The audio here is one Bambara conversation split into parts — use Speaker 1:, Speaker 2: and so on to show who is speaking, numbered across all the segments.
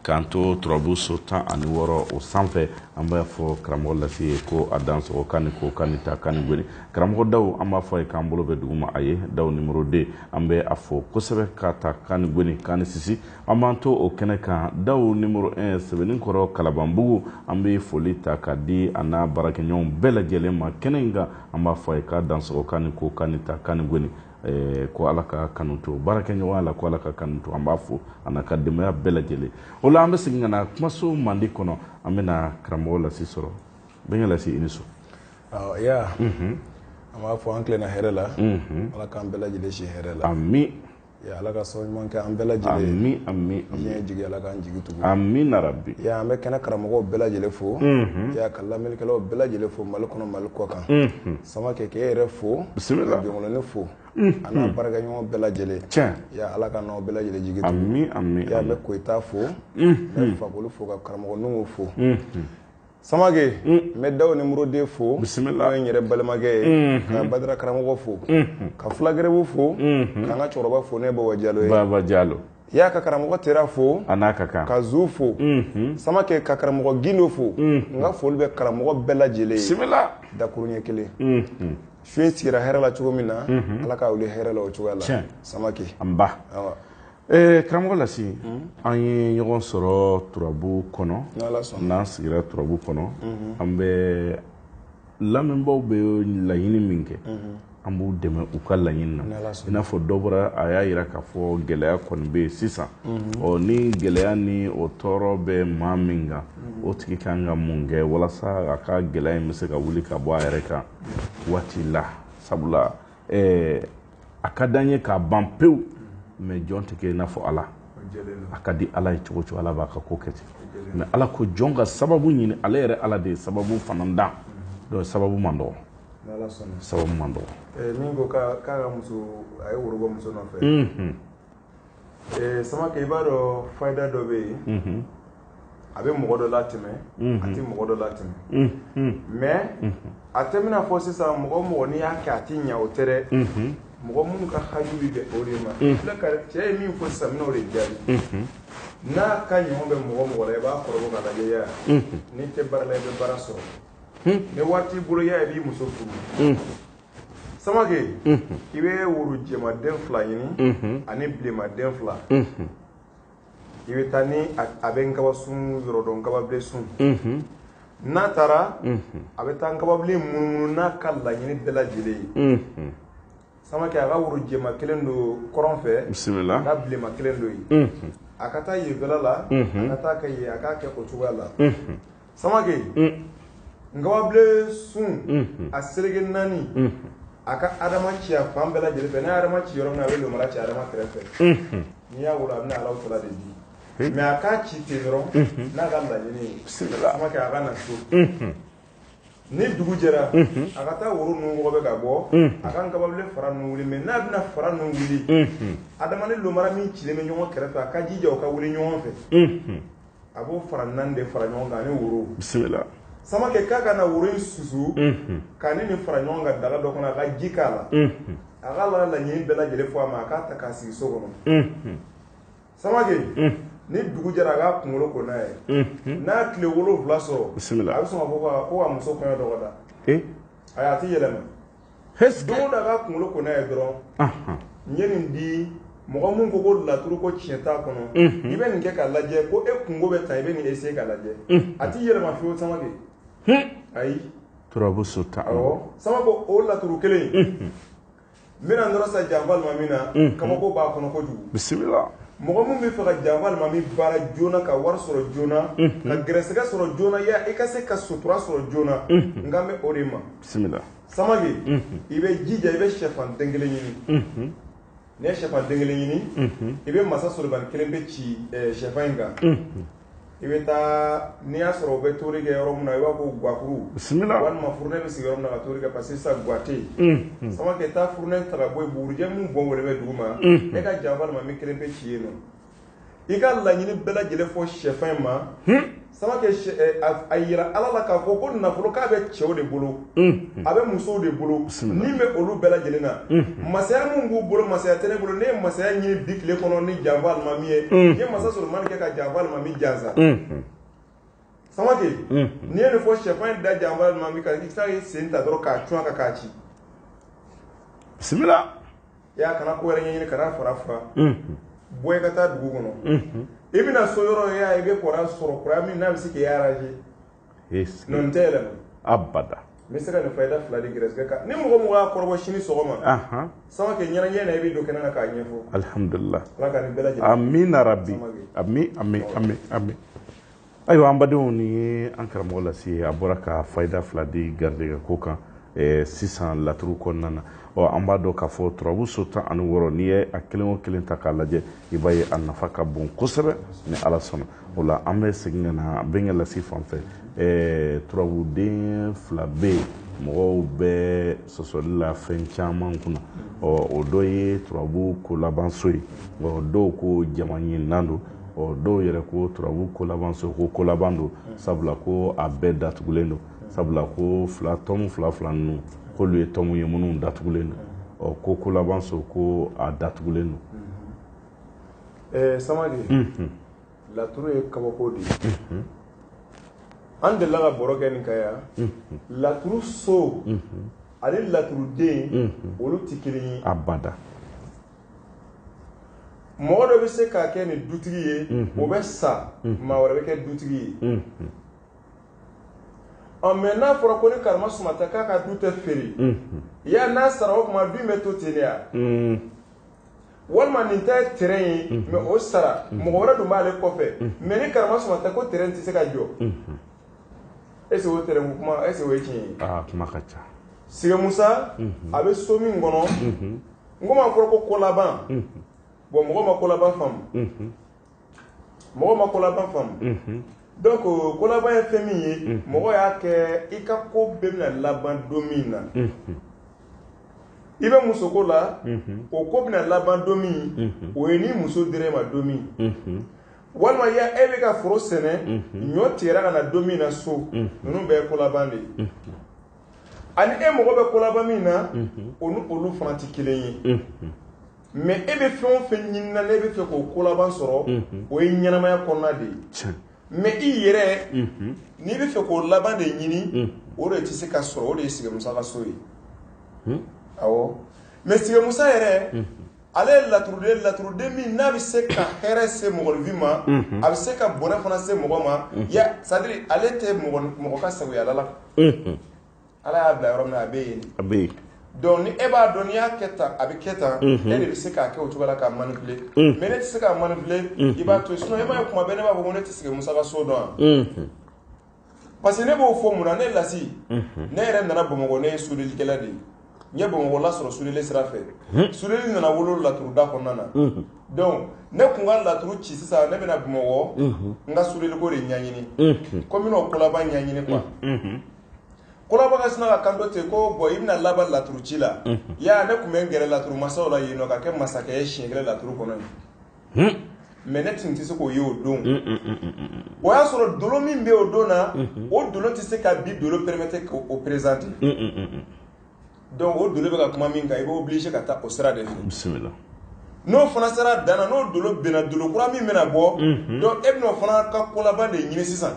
Speaker 1: k'an to turabu so tan ani wɔɔrɔ o sanfɛ an b'a fɔ karamɔgɔ lasi ye ko a dansɔgɔ k'a ni ko k'a ni ta k'a ni goni karamɔgɔ daw an b'a fɔ a ye k'an bolo bɛ dugu ma a ye daw nimoro 2 an bɛ a fo kosɛbɛ ka ta k'a ni goni k'a ni sisi an b'an to o kɛnɛ kan daw nimoro 1 sɛbɛninkɔrɔ kalabanbugu an bɛ foli ta ka di a n'a baarakɛɲɔgɔnw bɛɛ lajɛlen ma kɛnɛ in kan an b'a fɔ a ye k'a dansɔgɔ k'a ni ko k'a ni ta k'a ni goni Eh, ko ala ka kanu to baarakɛɲɔgɔnya la ko ala ka kanu to an b'a fo a n'a ka denbaya bɛɛ lajɛlen o la an bɛ segin ka na kumaso mandi kɔnɔ an bɛna karamɔgɔ lasi sɔrɔ bɛnkɛ lasi i ni su ya
Speaker 2: mhm. an b'a fɔ an tilenna hɛrɛ la mhm. ala k'an bɛɛ lajɛlen si hɛrɛ la ami ya
Speaker 1: ala ka
Speaker 2: sɔn ɲuman kɛ an bɛɛ lajɛlen ami ami diɲɛ
Speaker 1: jigi ala k'an
Speaker 2: jigi tugu amina yarabi ya
Speaker 1: an bɛ kɛnɛ karamɔgɔw
Speaker 2: bɛɛ lajɛlen fo mhm. ya ka lamɛnnikɛlaw bɛɛ lajɛlen fo mali kɔnɔ mali kɔkan samake k'e yɛrɛ fo bisimila jɔnkolonin fo a n'a baarakɛɲɔgɔn bɛɛ lajɛlen tiɲɛ ya ala
Speaker 1: k'an n'aw bɛɛ
Speaker 2: lajɛlen jigi tugu ami ami ya n bɛ
Speaker 1: koyita fo
Speaker 2: n bɛ fakoli fo ka karamɔgɔ nuhun fo samake n bɛ daw nimoro 2 fo bisimila n'o ye n yɛrɛ
Speaker 1: balimakɛ
Speaker 2: ye ka badara karamɔgɔ fo ka fula garibu fo ka n ka cɛkɔrɔba fo n'o ye baba jalo ye baba jalo
Speaker 1: ya ka
Speaker 2: karamɔgɔ tera fo a n'a ka kan ka
Speaker 1: zu
Speaker 2: fo samake ka karamɔgɔ gindo fo n ka foli bɛ karamɔgɔ bɛɛ lajɛlen ye bisimila dakuruɲɛ
Speaker 1: kelen
Speaker 2: su in sigira hɛrɛ la cogo min na ala k'a wuli hɛrɛ la o cogoya la samake
Speaker 1: nba ee karamɔgɔ lasi an ye ɲɔgɔn sɔrɔ turabu kɔnɔ n'an sigira turabu kɔnɔ an bɛ lamɛnbaw bɛ laɲini min kɛ an b'u dɛmɛ u ka laɲini na i n'a fɔ dɔ bɔra a y'a jira k'a fɔ gɛlɛya kɔni bɛ yen sisan ɔ ni gɛlɛya ni o tɔɔrɔ bɛ maa min kan o tigi ka kan ka mun kɛ walasa a ka gɛlɛya in bɛ se ka wuli ka bɔ a yɛrɛ kan waati la sabula ɛɛ a ka d'an ye k'a ban pewu mais jɔn tɛ kɛ i n'a fɔ ala a ka di ala ye cogo cogo ala b'a ka ko kɛ ten mais ala ko jɔn ka sababu ɲini ale yɛrɛ ala de ye sababu fana dan donc sababu man dɔgɔ sababu man dɔgɔ eh, min ko k'a ka
Speaker 2: muso a ye woro bɔ muso nɔfɛ samake i b'a dɔn fayida dɔ bɛ yen a bɛ mɔgɔ dɔ latɛmɛ a tɛ mɔgɔ dɔ latɛmɛ mais a tɛ bɛna fɔ sisan mɔgɔ mɔgɔ n'i y'a kɛ a tɛ ɲɛ o tɛ dɛ mɔgɔ minnu ka haju bɛ o de ma cɛ ye min fɔ sisan n bɛn'o de jaabi n'a ka ɲɔgɔn bɛ mɔgɔ mɔgɔ la i b'a kɔrɔbɔ ka lajɛ ya n'i tɛ baara la i bɛ baara sɔrɔ ni waati bolo ya i b'i muso furu samake i bɛ woro jɛmaden fila ɲini ani bilenmaden fila i bɛ taa ni a bɛ nkabasun yɔrɔ dɔn nkababilen sun n'a taara a bɛ taa nkababilen munumunu n'a ka laɲini bɛɛ lajɛlen ye samake a ka woro jɛma kelen don kɔrɔn fɛ bisimila ka bilenma
Speaker 1: kelen don
Speaker 2: yen a ka taa yenfɛla la a ka taa kɛ yen a k'a kɛ o cogoya la samake nkababilen sun a seleke naani a ka adama ci a fan bɛɛ lajɛlen fɛ n'a ye adama ci yɔrɔ min na a bɛ lomara ci adama kɛrɛfɛ n'i y'a wolo a bɛna alaw tala de di mais a k'a ci ten dɔrɔn n'a ka laɲini ye samake a ka na so ni dugu jɛra a ka taa woro ninnu wɔgɔbɛ ka bɔ a ka nkababilen fara ninnu wuli mais n'a bɛna fara ninnu wuli adama ni lomara min cilen bɛ ɲɔgɔn kɛrɛfɛ a ka jija o ka wuli ɲɔgɔn fɛ a b'o fara naani de fara ɲɔgɔn kan ani woro bisimila samake k'a ka na woro in susu k'a ni nin fara ɲɔgɔn kan daga dɔ kɔnɔ a ka ji k'a la a ka la laɲini bɛɛ lajɛlen fɔ a ma a k'a ta k'a sigi so kɔnɔ samake ni dugu jɛra a k'a kunkolo ko n'a ye n'a tile wolonwula sɔrɔ bisimila a bɛ sɔn ka fɔ ko ka muso kɔɲɔ dɔgɔda ayi a tɛ yɛlɛma don o don a k'a kunkolo ko n'a ye dɔrɔn n ye nin di mɔgɔ min ko ko laturu ko tiɲɛ t'a kɔnɔ i bɛ nin kɛ k'a lajɛ ko e kunko bɛ tan i bɛ nin essayer k'a lajɛ a tɛ yɛlɛma fiyewu samake ayi turabu
Speaker 1: so tan samake
Speaker 2: o laturu kelen n bɛna nɔrɔ sa janfa alimami na kabako b'a kɔnɔ kojugu bisimila
Speaker 1: mɔgɔ min bɛ fɛ
Speaker 2: ka janfa alimami baara joona ka wari sɔrɔ joona ka gɛrɛsɛgɛ sɔrɔ joona yan i ka se ka sutura sɔrɔ joona n kan bɛ o de ma bisimila
Speaker 1: samake i
Speaker 2: bɛ jija i bɛ shɛfan den kelen ɲini n'i ye shɛfan den kelen ɲini i bɛ masa solomani kelenpe ci shɛfan in kan i bɛ taa n'i y'a sɔrɔ u bɛ tobili kɛ yɔrɔ min na i b'a fɔ gwakuru bisimila walima furunɛ bɛ sigi yɔrɔ min na ka tobili kɛ parce que sisan gwa tɛ yen samake taa furunɛ ta ka bɔ yen bugurijɛ min bɔn wɛrɛ bɛ dugu ma e ka janfa alimami kelenpe ci yen nɔ i ka laɲini bɛɛ lajɛlen fɔ shɛfan in ma samake a jira ala la k'a fɔ ko nafolo k'a bɛ cɛw de bolo a bɛ musow de bolo min bɛ olu bɛɛ lajɛlen na masaya min b'u bolo masaya tɛ ne bolo ne ye masaya ɲini bi tile kɔnɔ ni janfa alimami ye n ye masa solomani kɛ ka janfa alimami jansa samake n'i ye nin fɔ shɛfan in da janfa alimami kan i tila i sen ta dɔrɔn k'a cun a kan k'a ci
Speaker 1: bisimila i y'a kana ko
Speaker 2: wɛrɛ ɲini kana fara fana bɔ i ka taa dugu kɔnɔ i bɛna so yɔrɔ i bɛ kɔrɔ sɔrɔ kɔrɔ min n'a bɛ se k'i arranger non a tɛ yɛlɛma abada
Speaker 1: n bɛ se ka nin fayida
Speaker 2: fila di gɛrɛsɛgɛ kan ni mɔgɔ mɔgɔ y'a kɔrɔbɔ sini sɔgɔma samake ɲɛnajɛ na i bɛ don kɛnɛ na k'a ɲɛfɔ alihamdulila ala
Speaker 1: ka nin bɛɛ
Speaker 2: lajɛlen amina
Speaker 1: rabbi amin ayiwa an badenw ni an karamɔgɔ lasi a bɔra ka fayida fila di garijɛgɛ ko kan eh, sisan laturu kɔnɔna na ɔ an b'a dɔn k'a fɔ turabu so tan ani wɔɔrɔ n'i ye a kelen o kelen ta k'a lajɛ i b'a ye a nafa ka bon kosɛbɛ ni ala sɔnna o la an bɛ segin ka na bɛnkɛ lasi fan fɛ eh, turabuden fila bɛ yen mɔgɔw bɛ sɔsɔli la fɛn caman kunna ɔ o dɔ ye turabu kolabanso ye ɔ dɔw ko jama ɲininan don ɔ dɔw yɛrɛ ko turabu kolaban so ko kolaban don sabula ko a bɛɛ datugulen don sabula ko fila tɔmu fila fila ninnu k'olu ye tɔmu ye minnu datugulen don ɔ ko kolaban so ko a datugulen don ɛɛ
Speaker 2: samake laturu ye kabako de ye an delila ka baro kɛ nin kan yan laturu so ani laturuden olu tɛ kelen ye abada mɔgɔ dɔ bɛ se ka kɛ nin dutigi ye o bɛ sa maa wɛrɛ bɛ kɛ dutigi ye ɔ mɛ n'a fɔra ko ni karama suma ta k'a ka du tɛ feere ya n'a sara o kuma du in bɛ to ten de ya walima nin ta ye tɛrɛn ye mɛ o sara mɔgɔ wɛrɛ dun b'ale kɔfɛ mɛ ni karama suma ta ko tɛrɛn tɛ se ka jɔ est-ce que o tɛrɛn kuma est-ce que o ye tiɲɛ ye kuma ka ca
Speaker 1: sigimusa
Speaker 2: a bɛ so min kɔnɔ n ko n'a fɔra ko kolaban bɔn mɔgɔ ma kolaban faamu mɔgɔ ma kolaban faamu donc kolaban ye fɛn min ye mɔgɔ y'a kɛ i ka ko bɛɛ bɛna laban don min na i bɛ musoko la o ko bɛna laban don min o ye ni muso dira e ma don min walima ya e bɛ ka foro sɛnɛ ɲɔ tigɛra ka na don min na so ninnu bɛɛ kolaban de ye ani e mɔgɔ bɛ kolaban min na o ni olu fana tɛ kelen ye mɛ e bɛ fɛn o fɛn ɲini na e bɛ fɛ k'o kolaban sɔrɔ o ye ɲɛnamaya kɔnɔna de ye mɛ i yɛrɛ n'i bɛ fɛ k'o laban de ɲini o de tɛ se ka sɔrɔ o de ye sigimusa ka so ye awɔ mɛ sigimusa yɛrɛ ale ye laturuden laturuden min n'a bɛ se ka hɛrɛ se mɔgɔninfin ma a bɛ se ka bɔnɛ fana se mɔgɔ ma sadiri ale tɛ mɔgɔ ka sagoya la ala y'a bila yɔrɔ min na a bɛ yen dɔnku ni e b'a dɔn n'i y'a kɛ tan a bɛ kɛ tan e de bɛ se k'a kɛ o cogo la k'a manipuler mɛ ne tɛ se k'a manipuler i b'a to sinon i m'a ye kuma bɛɛ ne b'a fɔ ko ne tɛ sigimusa ka so dɔn yan Parce que ne b'o fɔ mun na ne lasi ne yɛrɛ nana bamakɔ ne ye sudelikɛla de ye n ye bamakɔ lasɔrɔ sudeli sira fɛ sudeli nana wolo laturuda kɔnɔna na dɔnku ne kun ka laturu ci sisan ne bɛna bamakɔ n ka sudeliko de ɲɛɲini ko n bɛna o kolaban ɲɛɲini kuwa kolaban ka sina ka kanto ten ko bɔn i bɛna laban laturuci la ya ne tun bɛ n gɛrɛ laturumasaw la yen nɔ ka kɛ masakɛ ye siɲɛ kelen laturu kɔnɔ mais ne tun tɛ se k'o ye o don o y'a sɔrɔ dolo min bɛ o don na o dolo tɛ se ka bi dolo permettre k'o présenter donc o dolo bɛ ka kuma min kan i bɛ obligé ka taa o sira de fɛ n'o fana sera dan na n'o dolo bɛnna dolo kura min bɛna bɔ donc e bɛna o fana ka kolaban de ɲini sisan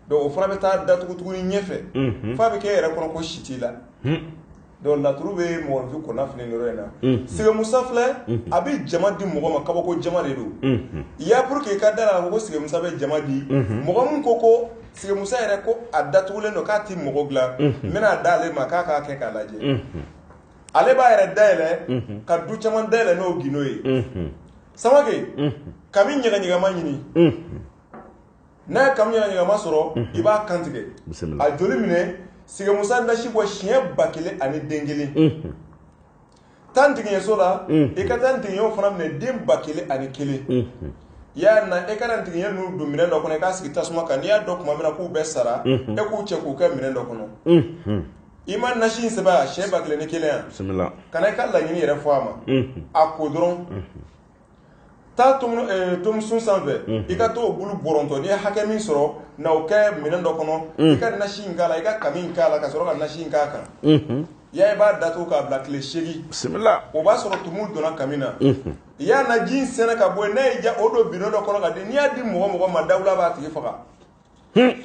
Speaker 2: donc o fana bɛ taa datugutugu ɲɛfɛ f'a bɛ kɛ e yɛrɛ kɔnɔ ko si t'i la donc laturu bɛ mɔgɔninfin kɔnɔnafili nin yɔrɔ in na sige Musa filɛ a bɛ jama di mɔgɔ ma kabako jama de don i y'a pour que i ka da la ko sige Musa bɛ jama di mɔgɔ min ko ko sige Musa yɛrɛ ko a datugulen don k'a tɛ mɔgɔ bila n bɛn'a d'ale ma k'a k'a kɛ k'a lajɛ ale b'a yɛrɛ dayɛlɛ ka du caman dayɛlɛ n'o gindo ye Samake kami ɲɛgɛɲɛgɛma ɲini n'a ye kami ɲɛgɛɲɛgɛma sɔrɔ i b'a kantigɛ a joli minɛ sige Musa nasi bɔ siɲɛ ba kelen ani den kelen taa ntigiɲɛso la i ka taa ntigiɲɛw fana minɛ den ba kelen ani kelen i y'a na e ka na ntigiɲɛ ninnu don minɛn dɔ kɔnɔ i k'a sigi tasuma kan n'i y'a dɔn tuma min na k'u bɛɛ sara e k'u cɛ k'u kɛ minɛn dɔ kɔnɔ i ma nasi in sɛbɛn a siɲɛ ba kelen ni kelen ya ka na i ka laɲini yɛrɛ fɔ a ma a ko dɔrɔn taa tomusun eh, sanfɛ mhm. i ka t'o bulu bɔrɔntɔ n'i ye hakɛ min sɔrɔ na o kɛ minɛn dɔ kɔnɔ mhm. i ka nasi in k'a la i ka kami in k'a la ka sɔrɔ ka nasi in k'a kan mhm. ya i b'a datugu k'a bila tile seegin bisimila o b'a
Speaker 1: sɔrɔ tumu
Speaker 2: donna kami na i y'a na ji in sɛnɛ ka bɔ yen n'a y'i diya o don bidɔn dɔ kɔnɔ ka di n'i y'a di mɔgɔ mɔgɔ ma dawula b'a tigi faga hmm.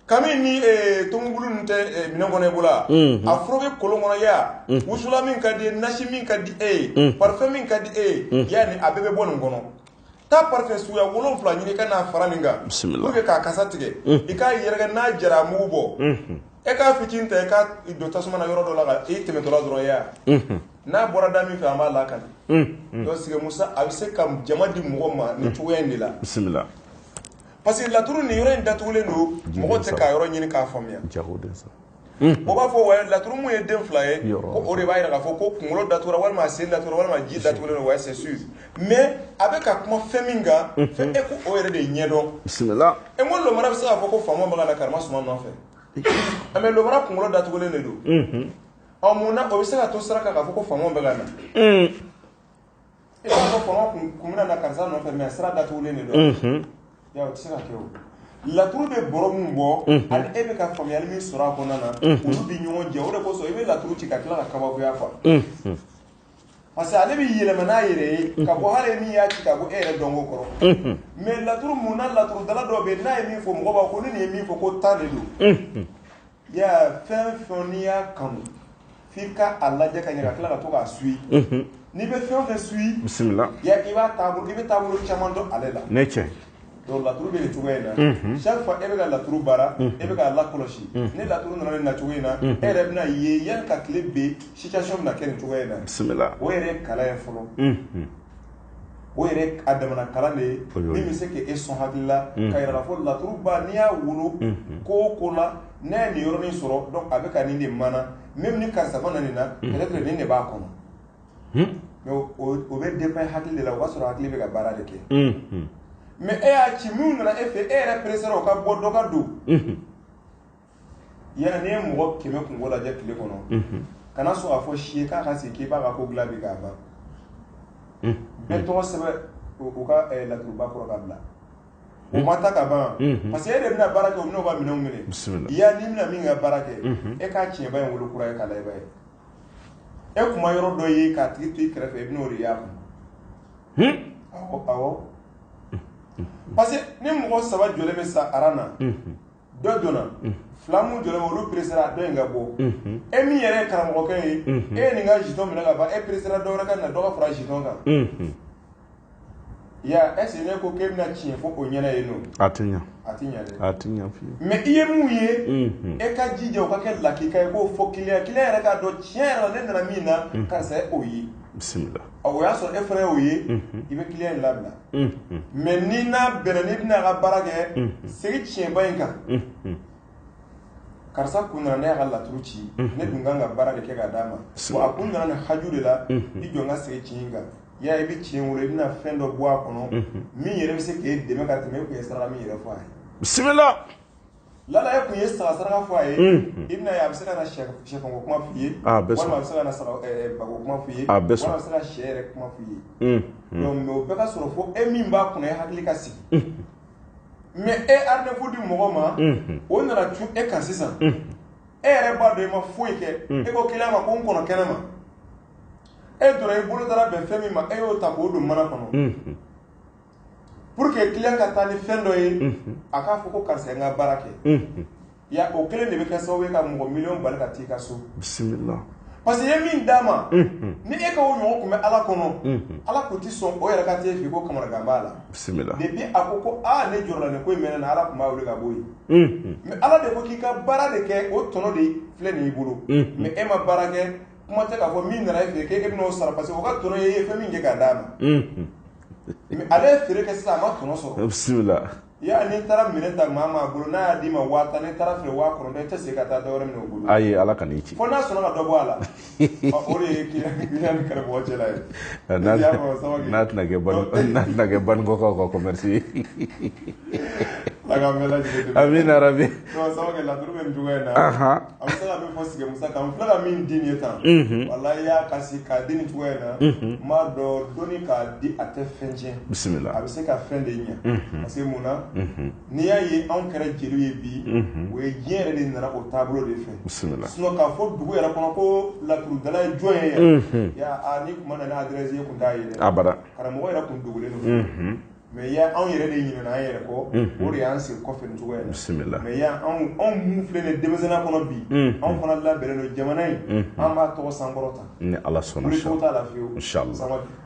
Speaker 2: kami ni eh, tomubulu ninnu tɛ eh, minɛn kɔnɔ i bolo wa Mhm. a foroge kolon kɔnɔ ya wusula min ka di ye nasi min ka di e ye parfum min ka di e ye ya ni a bɛɛ bɛ bɔ nin kɔnɔ taa parfum suguya wolonfila ɲini ka n'a fara nin kan Bisimila. pour que k'a kasa tigɛ i k'a yɛrɛkɛ n'a jara a mugu bɔ e k'a fitinin ta i k'a don tasuma na yɔrɔ dɔ la ka i tɛmɛtɔla dɔrɔn ya n'a bɔra da min fɛ an b'a lakali donc sige Musa a bɛ se ka jama di mɔgɔ ma nin cogoya in de la bisimila parce que laturu nin yɔrɔ in datugulen don mɔgɔ tɛ k'a yɔrɔ ɲini k'a faamuya o b'a fɔ wa laturu mun ye den fila ye ko o de b'a yira k'a fɔ ko kunkolo datugura walima a sen datugura walima ji datugulen don wa c'est sûr mais a bɛ ka kuma fɛn min kan fɛn e ko o yɛrɛ de ɲɛdɔn bisimila e ko lomara bɛ se k'a fɔ ko faama bɛ ka na karama suma nɔfɛ ah, mais lomara kunkolo datugulen de don ɔ mun na o bɛ se ka to sira kan k'a fɔ ko faama bɛ ka na E b'a fɔ faama kun bɛna na karisa nɔfɛ mais sira datugulen de don. Unhun. Ya o tɛ se ka kɛ o. Laturu bɛ bɔrɔ min bɔ. Unhun. Ani e bɛ ka faamuyali min sɔrɔ a kɔnɔna na. Unhun. Olu bɛ ɲɔgɔn jɛ o de kosɔn i bɛ laturu ci ka tila ka kabakoya fɔ. Unhun. Parce que ale bɛ yɛlɛma n'a yɛrɛ ye. Unhun. Ka bɔ hali e min y'a ci ka bɔ e yɛrɛ dɔnko kɔrɔ. Unhun. Mais laturu mun na laturudala dɔw bɛ yen n'a ye min fɔ mɔgɔw b'a fɔ ko ni nin ye min fɔ ko tan de don. Unhun. Ya fɛn o fɛn n'i y'a kanu f'i ka a lajɛ ka ɲɛ ka tila ka to k'a suit unhun n'i bɛ fɛn o fɛn suit bisimila ya i b'a taabolo i bɛ taabolo caman dɔn ale la ne cɛ donc laturu bɛ nin cogoya in na unhun chaque fois e bɛ ka laturu baara unhun e bɛ k'a lakɔlɔsi unhun ni laturu nana nin nacogo in na unhun e yɛrɛ bɛna ye yani ka tile bin situation bɛna kɛ nin cogoya in na bisimila o yɛrɛ ye kalan ye fɔlɔ unhun o yɛrɛ a damana kalan de ye min bɛ se k' e sɔn hakili la ka yira k'a fɔ laturuba n'i y'a wolo ko o ko la n'i ye nin yɔrɔnin sɔrɔ donc a bɛ ka nin de mana même ni karisa ma na nin na peut-être nin de b'a kɔnɔ mais o bɛ dépend e hakili de la o b'a sɔrɔ hakili bɛ ka baara de kɛ mais e y'a ci minnu nana e fɛ e yɛrɛ peresera o ka bɔ dɔ ka don Yani e ye mɔgɔ kɛmɛ kunko lajɛ tile kɔnɔ kana sɔn k'a fɔ si ye k'a ka sigi k'i b'a ka ko dilan bi k'a ban bɛɛ tɔgɔ sɛbɛn u ka laturuba kɔrɔ ka bila u ma ta ka ban parce que e de bɛna baara kɛ u ka minɛnw minɛ ya n'i bɛna min ka baara kɛ e k'a tiɲɛba in wolo kura ye k'a lajɛ i b'a ye e kun ma yɔrɔ dɔ ye k'a tigi to i kɛrɛfɛ i bɛna o de y'a kun awɔ parce que ni mɔgɔ saba jɔlen bɛ sa aran na dɔ donna fila minnu jɔlen bɛ olu peresera a dɔ in ka bɔ e min yɛrɛ ye karamɔgɔkɛ ye e ye nin ka jitɔn minɛ ka ban e peresera dɔ wɛrɛ ka na dɔ ka fara jitɔn kan ya est ce que ne ko k'e bɛna tiɲɛ fɔ o ɲɛna yen non a tɛ ɲa a tɛ ɲa dɛ a tɛ ɲa fiyewu mais i ye mun ye e ka jija o ka kɛ lakika ye k'o fɔ kiliyan kiliyan yɛrɛ k'a dɔn tiɲɛ yɛrɛ la ne nana min na karisa ye o ye bisimila o y'a sɔrɔ e fana y'o ye i bɛ kiliyan in labila mais ni n'a bɛnna n'i bɛna a ka baara kɛ segin tiɲɛba in kan karisa kun nana ne y'a ka laturu ci ne dun kan ka baara de kɛ k'a d'a ma a kun nana nin haju de la i jɔ n ka segin tiɲɛ in kan ya i bɛ tiɲɛ wolo i bɛna fɛn dɔ bɔ a kɔnɔ min yɛrɛ bɛ se k' e dɛmɛ ka tɛmɛ e kun ye saraka min yɛrɛ fɔ a ye Lala e kun ye saga saraka fɔ a ye i bɛna a ye a bɛ se ka na sɛfanko kuma f'i ye walima a bɛ se ka na bako kuma f'i ye walima a bɛ se ka sɛ yɛrɛ kuma f'i ye mais o bɛɛ ka sɔrɔ fo e min b'a kunna e hakili ka sigi mais e rendez-vous di mɔgɔ ma o nana cun e kan sisan e yɛrɛ b'a dɔn e ma foyi kɛ e ko client ma ko n kɔnɔ kɛnɛ ma e donna i bolo taara bɛn fɛn min ma e y'o ta k'o don mana kɔnɔ pour que client ka taa ni fɛn dɔ ye a k'a fɔ ko karisa ye n ka baara kɛ ya o kelen de bɛ kɛ sababu ye ka mɔgɔ miliyɔn bali ka t'i ka so bisimila parce que i ye min d'a ma ni e ka o ɲɔgɔn kun bɛ ala kɔnɔ ala kun tɛ sɔn o yɛrɛ ka t'e fɛ ko kamanagan b'a la bisimila depuis a ko ko aa ne jɔrɔla nin ko in mɛnɛ na ala kun b'a wele ka bɔ yen mais ala de ko k'i ka baara de kɛ o tɔnɔ de filɛ nin y'i bolo mais e ma baara kɛ kuma tɛ k'a fɔ min nana e fɛ k'e bɛna o sara parce que o ka tɔnɔ ye i ye fɛn min kɛ k'a d'a ma ale ye feere kɛ sisan a ma tɔnɔ sɔrɔ bisimila y'a n'i taara minɛn ta maa maa bolo n'a y'a d'i ma waa tan n'i taara feere waa kɔnɔntɔn i tɛ segin ka taa dɔwɛrɛ minɛ o bolo ayi ala kan'i ci fo n'a sɔnna ka dɔ bɔ a la Ɔ, o de ye kiliyan ni karamɔgɔ cɛla ye n'a N'a y'a fɔ Samake. n'a tɛna kɛ bani- n'a tɛna kɛ banikɔkaw ka commerce ye Ala k'an bɛɛ lajɛlen
Speaker 1: dɛmɛ. amina rabi Ɔ, Samake, laturu
Speaker 2: bɛ nin cogoya in na Ahan. An bɛ se ka min fɔ Sigiɲɛ Musa kan, n filɛ ka min di nin ye tan, unhun, walahi y'a kɔrɔsi k'a di nin cogoya in na, unhun, n b'a dɔn dɔnni ka di a tɛ fɛn tiɲɛ, bisimila, a bɛ se ka
Speaker 1: fɛn de ɲɛ, unhun,
Speaker 2: parce que mun na, unhun, n'i y'a ye anw kɛra jeliw ye bi, unhun, o ye diɲɛ yɛrɛ de nana o taabolo de fɛ, bisimila, sinon k'a
Speaker 1: fɔ dugu
Speaker 2: yɛrɛ kɔnɔ ko laturudala ye jɔn ye yan, unhun, aa n'i tun ma na ni adresse i tun t'a ye dɛ, abada, karamɔgɔ yɛrɛ
Speaker 1: tun dogolen
Speaker 2: don, unhun mais ya anw yɛrɛ de ɲinɛna an yɛrɛ kɔ o de y'an segin kɔfɛ nin cogoya la bisimila mais ya anw minnu filɛ nin denmisɛnninya kɔnɔ bi anw fana labɛnnen don jamana in an b'a tɔgɔ sankɔrɔta ni ala
Speaker 1: sɔnna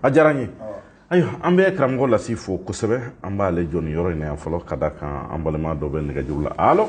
Speaker 2: a
Speaker 1: diyara n ye ayiwa an bɛ karamɔgɔ Lasi fo kosɛbɛ an b'aale jɔ nin yɔrɔ in na yan fɔlɔ ka da kan an balima dɔ bɛ nɛgɛjuru la alo